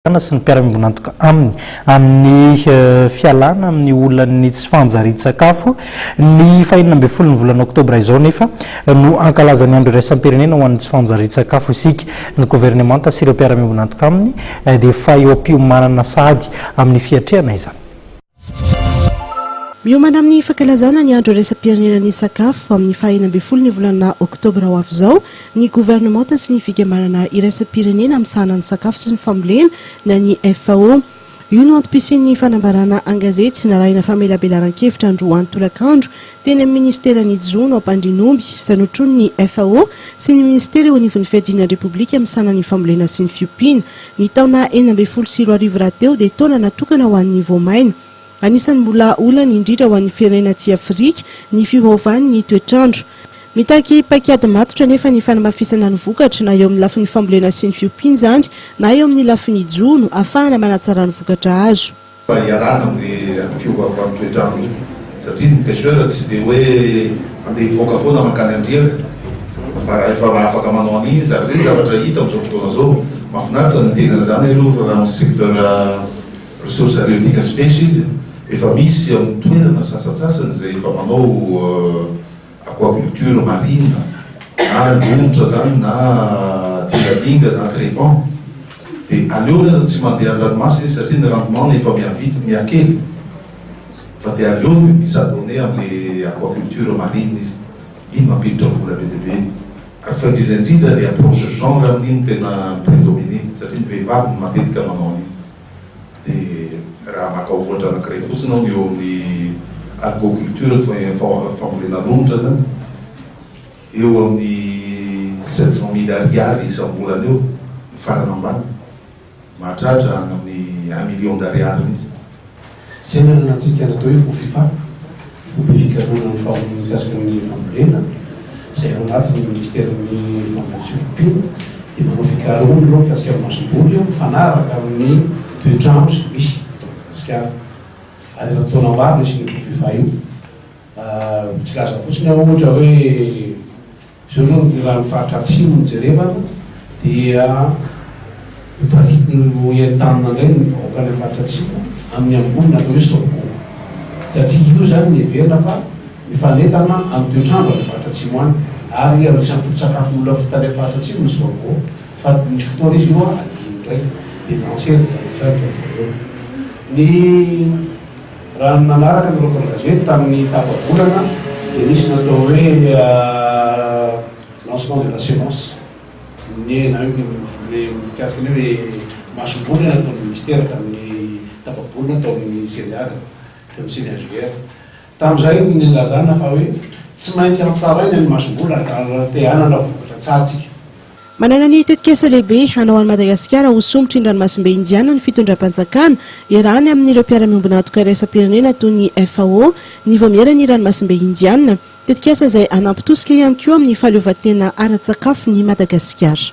Fanjakana sy ny mpiara-miombon'antoka aminy amin'ny fialana amin'ny olan'ny tsy fanjarian-tsakafo. Ny fahenina ambin'ny folon'ny volana oktobra izao nefa no hankalazan'ny andro iraisam-pirenena ho an'ny tsy fanjarian-tsakafo isika. Ny governemanta sy ireo mpiara-miombon'antoka aminy dia efa eo am-piomanana sahady amin'ny fiatrehana izany. Miomana amin'ny fankalazana ny andro iraisam-pirenena ny sakafo amin'ny fahenina ambin'ny folo ny volana oktobra ho avy izao ny governemanta sy ny fikambanana iraisam-pirenena misahana ny sakafo sy ny fambolena na ny FAO. Io no antom-pisian'ny fanambarana an-gazety narahina famelabelaran-kevitra androany tolakandro Teny amin'ny minisiteran'ny Jono Ampandrianomby, izay notronin'ny FAO sy ny minisitera eo anivon'ny Fiadiana ny Repoblika misahana ny Fambolena sy ny Fiompiana. Ny taona enina ambin'ny folo sy roa arivo rahateo dia taona natokana ho an'ny voamaina. Anisan'ny mbola olana indrindra ho an'ny firenena atsy Afrika ny fiovaovan'ny toetr'andro. Mitaky paik'ady matotra anefa ny fanamafisana ny vokatra, na eo amin'ny lafiny fambolena sy ny fiompiana izany, na eo amin'ny lafiny jono, ahafahana manatsara ny vokatra azo. Mba iarahana amin'iny fiovaovan'ny toetr'andro iny satria ny pecheur tsy dia hoe mandeha hivoaka foana mankany andriana fa raha efa afaka manao an'iny izy ary izay zavatra hita amin'izao fotoana izao mahafinaritra ny miteny an'izany aloha fa raha amin'ny secteur ressources halieutiques sy pêche izy efa misy amin'ny toerana sasantsasany izay efa manao Aquaculture marine na lomotra zany na dilalinga na crepant de aleony aza tsy mandeha andranomasina izy satria ny rendement-ny efa mihavitsy, mihakely fa de aleony mi s'adonner amle aquaculture marine izy, iny mampiditra vola be dia be iny ary fa indrindra indrindra le approche genre amin'iny no tena mi-predominer satria ny vehivavy no matetika manao an'iny. Dia raha maka ohatra anankiray fotsiny aho eo amin'ny Aquaculture, fambolena romotra zany, eo amin'ny sept cent mille ariary isam-bolana eo ny farany ambany, mahatratra any amin'ny un million d'ariary mihitsy. Fiainana na antsika natao hoe fo fifa, foibe fikarohana ny fahomby mikasika ny fambolena, izay ao anatin'ny minisiterin'ny fambolena sy fompiana, dia manao fikarohana aloha mikasika ny masomboly mifanaraka amin'ny toetr'andro izay misy eto Madagasikara. Ary efa taona maro no hisian'io fo fifa io. Tsy laza fotsiny aho ohatra hoe. Izao aloha ny rano faritra atsimo no jerevana dia ho entanina indray ny vahoaka any amin'ny faritra atsimo amin'ny ambony ny atao hoe sorgho satria io izany no heverina fa mifanentana amin'ny toetr'andro any amin'ny faritra atsimo any ary anisan'ny foto-tsakafon'ny olona fota any amin'ny faritra atsimo ny sorgho fa misy fotoana izy io adino indray dia nantsy ery izany hatrizay ny sorgho izao. Ny. Raha ny nanaraka ny Rock am Gazety tamin'ny tapa-bolana dia nisy natao hoe lancement de la semence, ny na hoe ny mikasika ny hoe masomboly nataon'ny Ministera tamin'ny tapa-bolana tao amin'ny CDH, teo amin'ny CNHGR. Tamin'izay no nilazana fa hoe tsy maintsy hatsaraina ny masomboly raha te hanana vokatra tsara isika. Manana ny tetikasa lehibe hanao an'i Madagasikara ho sombitry ny ranomasimbe Indiana ny fitondram-panjakana, iarahany amin'ireo mpiara-miombon'antoka iraisam-pirenena toy ny FAO, ny Vaomieran'ny Ranomasimbe Indiana. Tetikasa izay hanampy tosika ihany koa amin'ny fahaleovantena ara-tsakafon'i Madagasikara.